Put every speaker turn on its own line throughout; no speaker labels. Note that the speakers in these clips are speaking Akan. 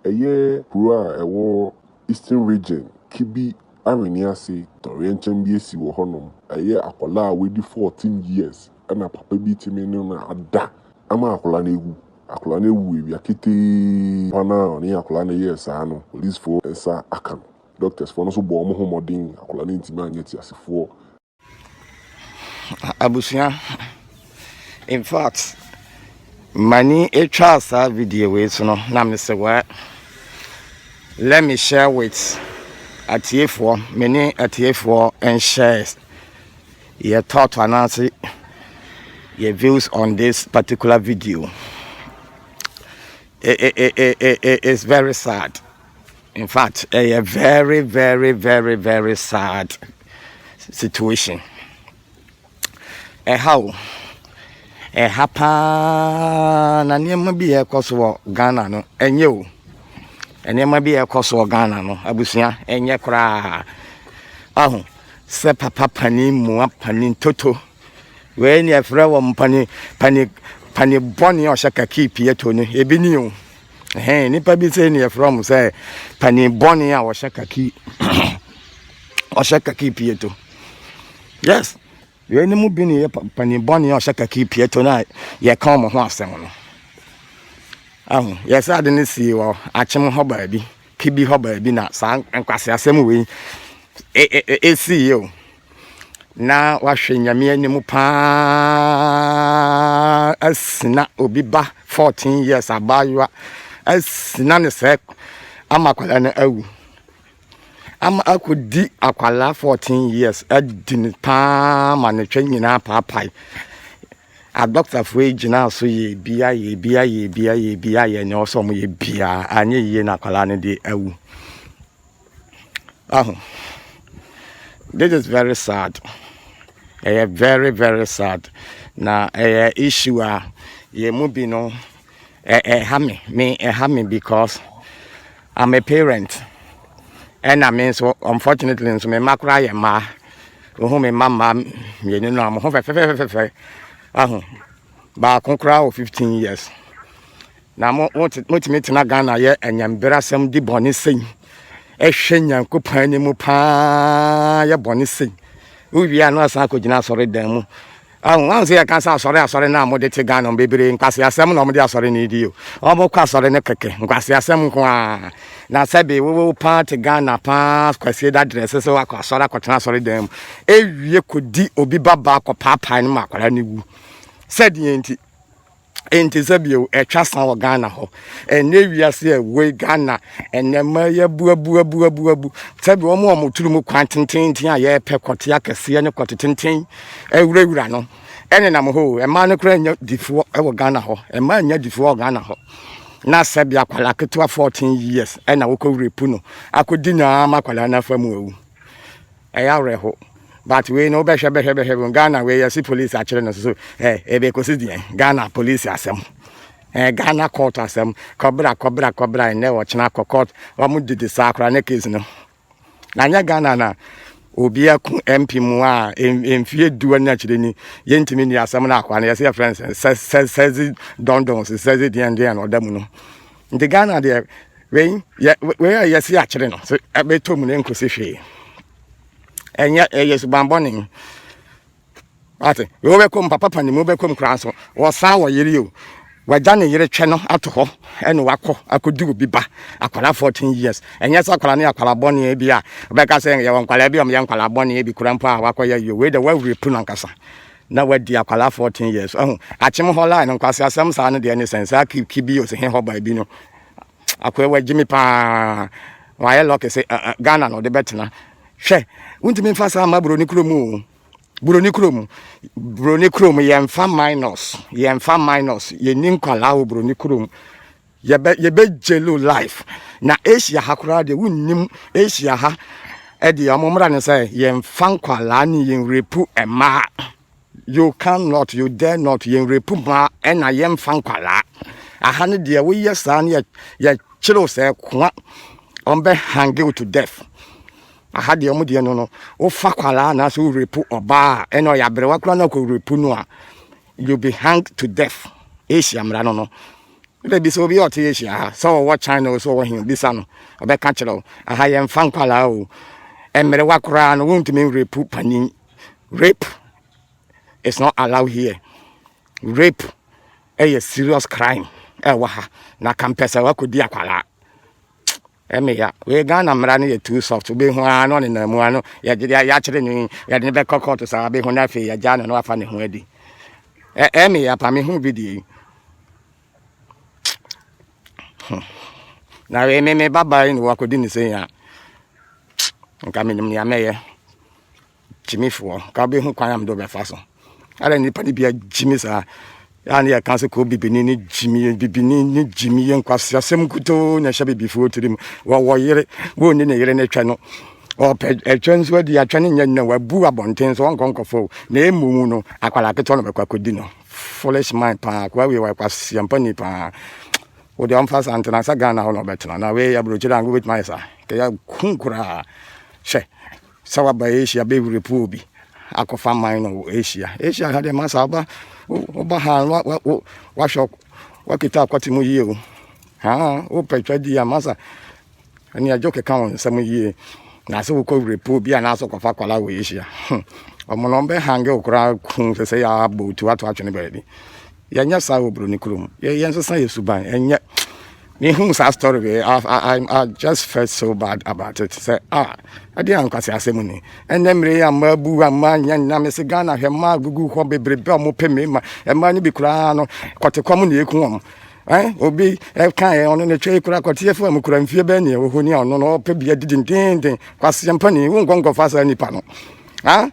Ɛyɛ kuro a ɛwɔ Eastern Region, Kebbi Awenease tɔwrɛnkyɛm bi asi wɔ hɔnom. Ɛyɛ akwadaa a wadi 14 years na papa bi tumi ne no ada ama akwadaa no awu. Akwadaa no awu awia ketee pa no a ɔne akwadaa no yɛɛ saa no, polisfoɔ nsa aka no. Doctors foɔ no nso bɔɔ wɔn ho mmɔden, akwadaa no antumi anyɛ teasefoɔ.
Abusua, in fact, m'ani atwa saa video wei so no na mesɛ wɛ let me share with atiefoɔ me ne atiefoɔ nhyɛ yɛ thought anaase yɛ views on this particular video. It, it, it, it, it, it's very sad. Infact ɛyɛ very very very very sad situation ɛha o ɛha paa na nneɛma bi yɛ ɛkɔ so wɔ Ghana no ɛnyɛ o nneɛma bi yɛ ɛkɔ so wɔ Ghana no abusua ɛnyɛ koraa aho sɛ papa panin mua panin toto wei ni ɛfrɛ wɔn panin panin panin bɔne ɔhyɛ kakii pie to no ebi ni o. Ɛhɛn, nnipa bi sɛ ne yɛfrɛ wɔn sɛ panin bɔne a wɔhyɛ kaki ɔhyɛ kaki pieto yes yɛn ne mu bi ne yɛ panin bɔne a ɔhyɛ kaki pieto no a yɛka wɔn ho asɛm no ahu yɛsɛ ade no sii wɔ akyem hɔ baabi kibi hɔ baabi na saa nkwase asɛm wei ɛsii e, e, e, yɛ o na wahwɛ Nyame anim paa asina obi ba 14 years abaayewa asina ne sɛ ama akwadaa no awu ama akɔdi akwadaa 14 years adi ne paa ma ne twɛ nyinaa paapae adɔktafoɔ yi gyinaa so yɛ bia yɛ bia yɛ bia yɛ bia yɛ nea ɔsɛ ɔmo yɛ bia anyɛ yie na akwadaa no de awu Wahu? This is very sad. Ɛyɛ very very sad. Na ɛyɛ issue a yɛn mu bi no ɛha me me ɛha me because I'm a parent. Ɛna me nso unfortunately nso me mma koraa yɛ mmaa. Wohu me mma mmaa mmienu no a mo ho fɛfɛfɛfɛfɛ. Wahu? Baako koraa wɔ 15 years. Na mo mo motumi tena Ghana yɛ anyamberasɛm di bɔne sei ɛhwɛ Nyankopɔn anim paa yɛ bɔne sei wowie a na asan akɔgyina asɔre dan mu ahun ahun sɛ yɛka sɛ asɔre asɔre no a mode te Ghana bebree nkwase asɛm na wɔde asɔre no di o wɔn kɔ asɔre no kɛkɛ nkwase asɛm nko a na sɛbe wowo paa te Ghana paa kwasie da drɛse sɛ wakɔ asɔre akɔtena asɔre dan mu ewie kɔdi obi babaa kɔ paapae no ma akwadaa no wu sɛdeɛ nti Ɛnte sɛ bio, ɛtwa sa wɔ Ghana hɔ. Ɛnyɛ wiase a ɛwoi Ghana ɛnɛ ma yɛ abuabuabuabuabu. Sɛbi wɔn a wɔturu mu kwan tententen a yɛpɛ kɔte akɛseɛ ne kɔte tenten awurawura no ɛnenam hɔ o. Mmaa no koraa nyɛ difoɔ wɔ Ghana hɔ. Mmaa nyɛ difoɔ wɔ Ghana hɔ. Na sɛbi akwadaa ketewa 14 years ɛna wokɔ wura pu no akɔdi no ara ma akwadaa no afa mu awu. Ɛyɛ awerɛho but wei no wobɛhwɛ bɛhwɛ bɛhwɛ bɛhwɛ Ghana wei yɛse police akyere no so eh, ɛbɛkɔsi deɛ Ghana police asɛm eh, Ghana court asɛm kɔbra kɔbra kɔbra ɛnɛ wɔkyena kɔ court wɔn didi saa koraa ne case no na nyɛ Ghana na obi ako MP mu a mfie duo ne akyire ni yɛntumi ni asɛm no akoa no yɛse yɛfrɛ no sɛzi dɔndɔn sɛzi deɛn deɛn ɔda mu no Nti Ghana deɛ wei yɛ wei a yɛsi akyere no so ɛbɛtɔ mu na nkosi hwee ɛnyɛ ɛyɛ subanbɔne ate wei wobɛkɔ mu papa pa ne mu wobɛkɔ mu koraa so wɔsan wɔ yere o wagya ne yere twɛ no ato hɔ ɛne wakɔ akɔdi obi ba akwara 14 years ɛnyɛ sɛ akwara ne akwara bɔne bi a wobɛka sɛ yɛwɔ nkwara bi a ɔmyɛ nkwara bɔne bi kora mpo a wakɔyɛ yɛ wei dɛ woawurapu no ankasa na wadi akwadaa fourteen years ɛho akyem hɔ line nkwasi asɛm saa no deɛ ne sɛn saa ki ki bi osi he hɔ baabi no akoe wɔ gyimi paa wɔayɛ lɔki sɛ eh, eh, ghana na ɔde bɛtena hwɛ wontumi nfa saa mma buroni kurom o buroni kurom buroni kurom yɛmfa minus yɛmfa minus yɛni nkwadaa wɔ buroni kurom Yɛbɛ yɛbɛ gyelo life na Asia ha koraa deɛ wonnim Asia ha ɛdeɛ wɔn mmra ne sɛ yɛnfa nkwalaa ne yɛn repu mmaa you can not you dare not yɛn repu mmaa ɛna yɛnfa nkwalaa aha ne deɛ woyɛ saa ne yɛ yɛkyerɛw sɛ koa wɔn bɛ hange to death aha deɛ wɔn deɛ no no wofa kwalaa anaasɛ worepu ɔbaa ɛna ɔyɛ aberewa koraa na ɔkɔ repu no a you be hanged to death asia mmara no no wode bisa obi a ɔte asia ha sɛ ɔwɔ china o sɛ ɔwɔ he bisa no ɔbɛka kyerɛ wo aha yɛmfa nkwalaa o mmerewa koraa no wontumi nrepu panin rape is not allowed here rape ɛyɛ serious crime ɛwɔ ha na kampɛ sɛ wakɔdi akwalaa Ɛmɛ ya wei Ghana mmara no yɛ too soft wobɛhu ara na ɔnenam mu ara no yɛgye de yɛakyere no yi yɛde no bɛkɔ kɔɔto saa wabɛhu no afei yɛgyaa no na wafa ne ho adi ɛmɛ ya pa mehu bi deɛ yi na wei me me babaa yi ne wakɔdi ne sɛ yi a nka menim nea mɛyɛ gye me fi wɔn ho ka bɛhu kwan a mede wɔbɛfa so adɛn nnipa no bia gye me saa yɛa ne yɛka sɛ kɔɔ bibini ne gye me yɛ bibini ne gye me yɛ nkwaseasɛm kutoo na ɛhyɛ bibifoɔ tiri mu wɔwɔ yere wɔnni ne yere no twɛ no ɔpɛ ɛtwɛ nso adi atwɛ no nyɛ nnɛ wabu abɔnten so ɔnkɔ nkɔfo na ɛmu mu no akwara ketewa no bɛkɔ akɔdi no foolish mind paa koa wei wakwaseɛ mpa ni paa wode ɔmfa sa ntena sɛ ghana hɔ na ɔbɛtena na wei aburokyerɛ anko bɛtumi ayɛ saa kɛyɛ kun koraa hyɛ Sɛ waba Asia bɛ wurepuo bi akɔfa man no wɔ Asia. Asia ha deɛ masa woba woba ha no wahwɛ wakita akwate mu yie o. Haa wopɛ twa di a masa ɛne agye keka wɔn nsɛm yie. Na sɛ wokɔ wurepuo bi anaasɛ kɔfa akwala wɔ Asia. Wɔn na wɔbɛhange wo koraa kun sɛ sɛ yɛabɔ otu ato atwene baabi. Yɛnyɛ saa wɔ Buroni kuro mu. Yɛ yɛnsesa yɛ suban. Ɛnyɛ mehu saa story wei I, I, I just felt so bad about it sɛ a ah, ɛde ankwase asɛm ni ɛnɛ mmere yi amma abu amma nyɛ nna me se Ghana hwɛ mmaa agugu hɔ bebrebe a wɔpɛ mmarima mmaa no bi koraa no kɔtekɔm na ɛku wɔn Eh, obi ɛka eh, yɛ ɔno ne twɛ yi kora kɔteɛ fo a mu kora mfie bɛɛ neɛ wɔhɔ ni a ɔno no ɔpɛ bia didindenden kwaseɛ mpa ni wo nkɔnkɔfa saa nnipa no ha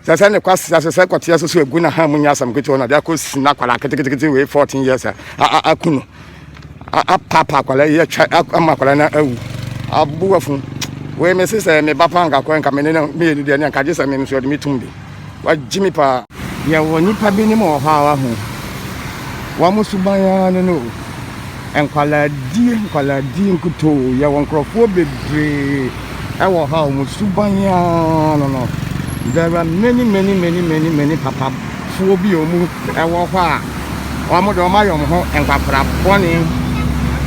sɛ sɛ ne kwasi sɛ sɛ kɔteɛ so so egu na ha mu nyɛ asɛm ketewa na de akɔ si na akwara ketekete wei fourteen years a aku no apapa akwara yi atwa ama akwara na awu aboa fun wei me se sɛ me ba pa nka kɔ nka me ne no mmienu deɛ ne nka gye sɛ me nso ɔde me tum bi wagye me paa yɛwɔ nipa bi ne mu wɔ hɔ a wahu wɔn suban ara no no Nkwalaadie nkwalaadie nkutoo yɛwɔ nkorɔfoɔ bebree ɛwɔ ha wɔn suban aa no no there are many many many many many papafoɔ bi a wɔn ɛwɔ hɔ a wɔn deɛ wɔn ayɛ wɔn ho nkwakora bɔne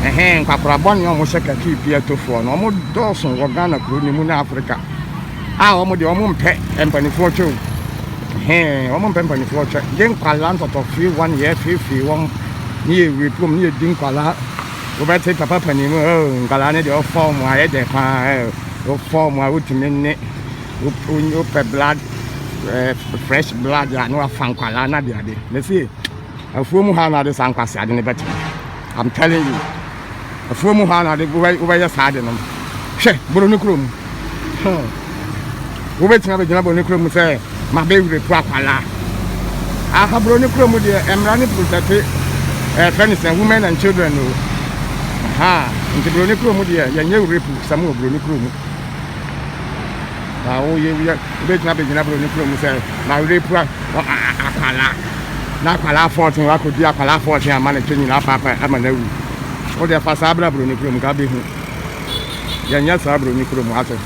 ɛhɛn nkwakora bɔne a wɔn hyɛ kakii piatofoɔ no wɔn dɔɔso wɔ Ghana kuro no mu ne Africa. Ah wɔn deɛ wɔn mpɛ mpanimfoɔ twɛ o. Hɛn wɔn mpɛ mpanimfoɔ twɛ. Gye nkwadaa ntɔtɔ fie wɔn yɛ fiefie wɔn ne yɛ wire pom ne yɛ di nkwadaa. Wobɛte papa panin mu oh nkwadaa ne deɛ ɔfa wɔn ayɛ dɛ paa eh wofa wɔn a wotumi ne wopɛ blood eh, fresh blood a na wafa nkwadaa na de ade. Mese afuo mu ha na ade saa nkwasi ade ne bɛte. I'm telling you. Afuo mu hɔ ara na ade wobɛ wobɛyɛ saa ade no. Hwɛ Boroni kuro mu. Hmm. Wobɛtumi abɛgyina Boroni kuro mu sɛ mabɛwere po akwala. Aha Boroni kuro mu deɛ mmara ne protɛte ɛfɛ ne sɛ women and children o. Aha nti Boroni kuro mu deɛ yɛnyɛ were po sɛm wɔ Boroni kuro mu. Na wo ye wiɛ, wo be gyina be gyina bro ne kuro mu sɛ ma were pua wɔ a a akwalaa. Na akwalaa fɔɔten wa kɔ di akwalaa fɔɔten ama ne kyɛ nyina apa apa ama na wu. Wo deɛ fa saa bra bro ne kuro mu ka be hu. Yɛ nyɛ saa bro ne kuro mu ate.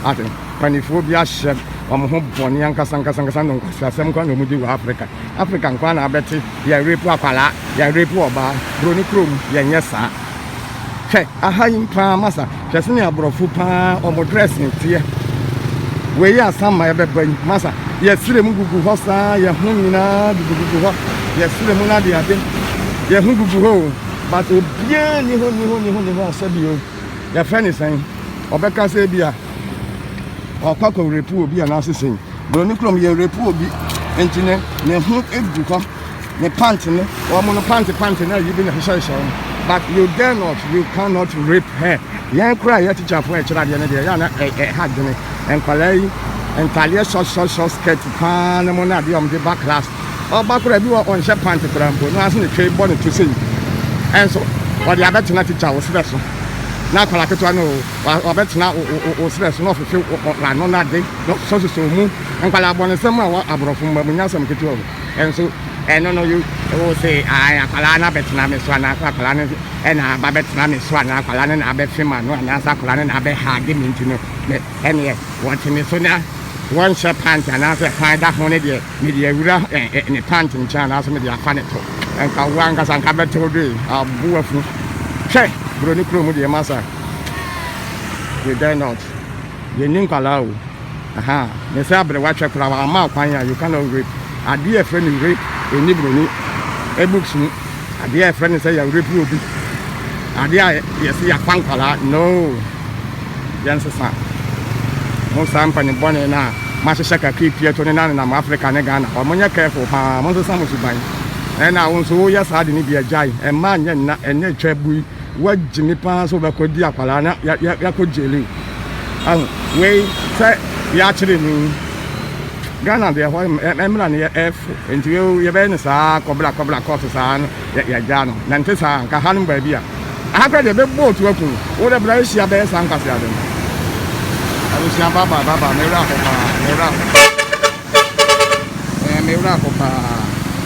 Ate. Panifoɔ bi ahyɛ wɔn ho bɔne ankasa ankasa ankasa no nkwasi asɛm nkoa na wɔn di wɔ Africa. Africa nkoa na abɛte yɛ rape akwalaa, yɛ rape ɔbaa. Bro ne kuro mu yɛ nyɛ saa. Hwɛ aha yi paa masa. Hwɛ sɛnea aborɔfo paa wɔn dressing teɛ. Wei yɛ asamma ɛbɛba yi masa. Yɛsrɛ mu gugu hɔ saa yɛn ho nyinaa gugugugu hɔ. Yɛsrɛ mu no adeade. Yɛn ho gugu hɔ o. But obiara ni hɔ ni hɔ ni hɔ ni hɔ a sɛbi o. Yɛfrɛ ne sɛn. Ɔbɛka sɛ ebi a ɔkɔ akɔ rape obi anaasɛ sɛn. Buroni krom yɛ rape obi nti ne ne ho gu hɔ. ne pant no, wɔn no pant pant na ayi bi na hyehyɛhyɛ wɔn. But you dare not, you cannot rape her. Yɛn kura yɛ tikyafoɔ a ɛkyerɛ adeɛ no deɛ, yɛ ana ɛha dwene. Nkwadaa yi, ntadeɛ short short short skirt paa ne mo na adeɛ wɔn de ba class. Ɔba kura bi wɔ ɔnhyɛ pant kura mpo, na ase ne twɛ bɔ ne to sei. Ɛnso, wɔde abɛtena tikya wo serɛ so. Na akwadaa ketewa no, wɔbɛtena wo serɛ so na ɔfefe w'ano n'ade, na ɔsosɔsosɔ mu. Nkwadaa abɔnesɛm a wɔ aborɔfo mma mu nyɛ asɛm ketewa o. nso ɛno no wo se ae akwadaa no abɛtena me so anaasɛ akwadaa no na aba bɛtena me so anaa akwadaa no na abɛfe ma no anaasɛ akwadaa no na abɛhage me nti no me ɛneɛ wɔte me so na wɔnhyɛ pant anaasɛ fan da ho no deɛ mede awura ne pant nkyɛn anaasɛ mede afa ne to nka wo ankasa nka bɛtew do yi abo afu hwɛ buroni kuro mu deɛ masa you dare not yɛnni nkwadaa o Ahaa me sɛ aberewa kyɛ koraa wamma kwan a you cannot rape adeɛ a yɛfrɛ no rape ɛnni broni books mu adeɛ a yɛfrɛ no sɛ yɛ rape obi adeɛ a yɛse yɛakwa nkwadaa noo yɛnsesa mo saa mpanibɔne no a mahyehyɛ kakra pie to ne na nenam Africa ne Ghana hɔ monyɛ careful paa monsesa mo suban ɛna wo nso woyɛ saa de no bi agyae ɛmma nyɛ nna ɛnɛ twa bui Wagyimi paa sɛ wobɛkɔ di akwadaa na yɛakɔ gyeli ahu wei sɛ yɛakyere ni ghana deɛ hɔ mmra no yɛfo nti yɛbɛyɛ no saa kɔbra kɔbra kɔɔto saa no yɛagyaa no na nte saa nka ha no baabi a aha kora deɛ bɛbɔ otu aku wo dɛ bra ahyia bɛyɛ saa nkwaseade no abusua baba baba mewura hɔ paa mewura hɔ Ɛyɛ me wura kɔ paa.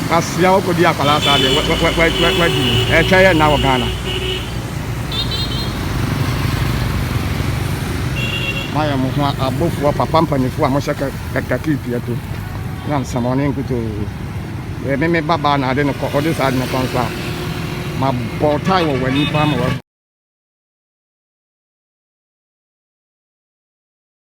Kwasea wo kɔdi akwadaa saa deɛ wɛ wɛ wɛ wɛ wadi ni. Ɛtwa yɛ nna wɔ Ghana. Moayɛ mo ho abofoɔ papa mpanyinfoɔ a mohyɛ kɛ kɛ kakii pia to na nsɛmɔne nkutoo. Yɛ me me ba baa na ade no kɔ ɔde saa ade no kɔ nso a ma bɔ tae wɔ w'ani paa ma wɔ.